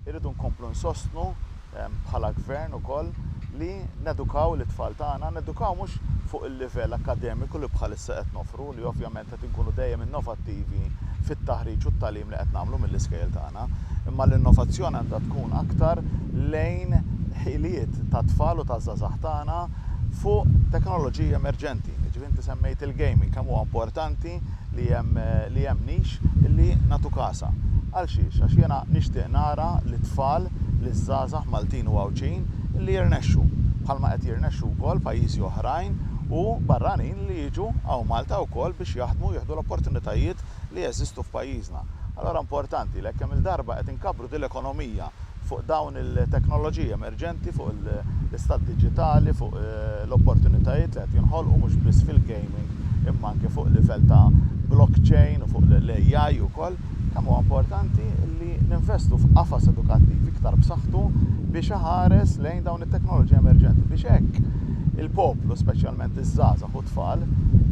Irridu nkomplu nsostnu bħala Gvern ukoll li nedukaw lit-tfal tagħna, nedukaw mhux fuq il-livell akkademiku li bħalissa qed noffru, li ovvjament qed inkunu dejjem innovattivi fit-taħriġ u t-tagħlim li qed nagħmlu mill-iskejjel tagħna, imma l-innovazzjoni għandha tkun aktar lejn ħiliet tat-tfal u taż-żgħażagħ tagħna fuq teknoloġiji emerġenti. Jiġifieri inti semmejt il-gaming, kemm huwa importanti, li hemm li hemm nix li nagħtu kasha. Għal xiex? Għax jiena nixtieq nara lit-tfal, liż-żgħażagħ Maltin u Għawdxin li jirnexxu, bħalma qed jirnexxu wkoll pajjiżi oħrajn u barranin li jiġu hawn Malta wkoll biex jaħdmu u jieħdu l-opportunitajiet li jeżistu f'pajjiżna. Allura importanti li jekk kemm-il darba qed inkabbru din l-ekonomija fuq dawn il-teknoloġiji emerġenti, fuq l-istat diġitali, fuq l-opportunitajiet li qed jinħolqu mhux biss fil-gaming imma anke fuq livell ta' blockchain u fuq l-AI ukoll, kemm huwa importanti li ninvestu f'qafas edukattiv iktar b'saħħtu biex iħares lejn dawn it-teknoloġiji emerġenti biex hekk il-poplu, speċjalment iż-żgħażagħ u t-tfal,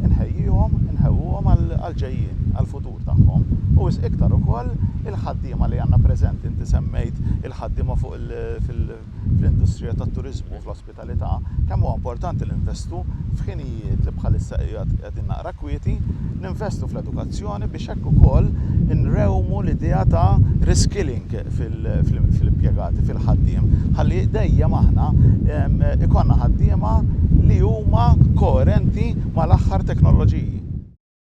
inħejjihom, inħewwuhom għall-ġejjieni, għall-futur. ksur tagħhom, u wisq iktar ukoll il-ħaddiema li għandna preżenti. Inti semmejt il-ħaddiema fuq il, fil, fl-industrija tat-turiżmu, fl-ospitalità, kemm huwa importanti li ninvestu f'ħinijiet li bħalissa qiegħed qegħdin naqra kwieti, ninvestu fl-edukazzjoni biex hekk ukoll inrewmu l-idea ta' reskilling fil, fl-impjegati, fil-ħaddiem, ħalli dejjem aħna ikollna ħaddiema li huma koerenti mal-aħħar teknoloġiji.